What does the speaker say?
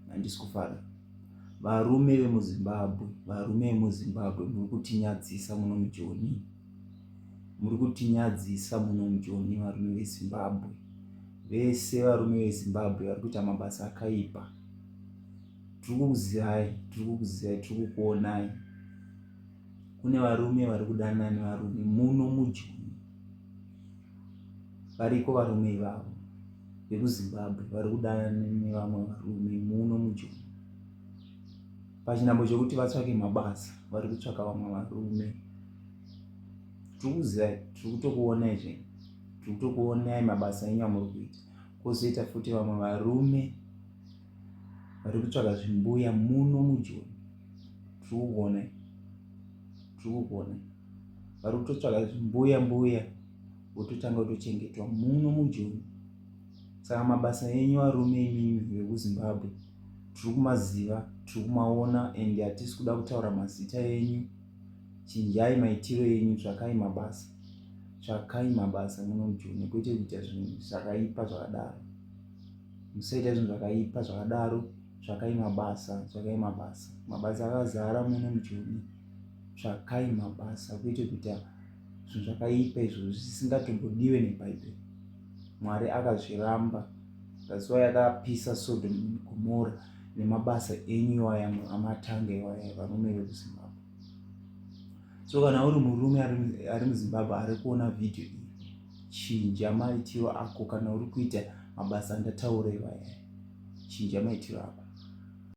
handisi kufara varume vemuzimbabwe varume vemuzimbabwe muri kutinyadzisa muno mujoni muri kutinyadzisa muno mujoni varume vezimbabwe vese varume vezimbabwe vari kuita mabasa akaipa tiri kukuzirai tiri kukuzirai tiri kukuonai kune varume vari kudanana nevarume muno mujoni variko varume ivavo vekuzimbabwe vari kudana nevamwe varume muno mujoni pachinambo chekuti vatsvake mabasa vari kutsvaka vamwe varume tiri kuziva tiri kutokuona izve tiri kutokuonai mabasa enyu amuri kuita kozoita futi vamwe varume vari kutsvaga zvimbuya muno mujoni tiri kukuonai zvokuona vari kutotsvaga mbuya mbuya vototanga kutochengetwa muno mujoni saka mabasa enyu varume imimi vekuzimbabwe tiri kumaziva tiri kumaona and hatisi kuda kutaura mazita enyu chinjai maitiro enyu tsvakai mabasa tsvakai mabasa muno mujoni kwete kuita zvinhu zvakaipa zvakadaro musaita zvinhu zvakaipa zvakadaro tsvakai mabasa tsvakai mabasa mabasa akazara muno mujoni tsvakai mabasa kuite kuita zvinhu zvakaipa izvo zvisingatombodiwe nebhaibheri mwari akazviramba zvaziva yakapisa sodom gomora nemabasa enyu iwaya amatanga iwaya varume vekuzimbabwe so kana uri murume ari muzimbabwe ari kuona vhidhio iyi chinja maitiro ako kana uri kuita mabasa andataurewa chinja maitiro ako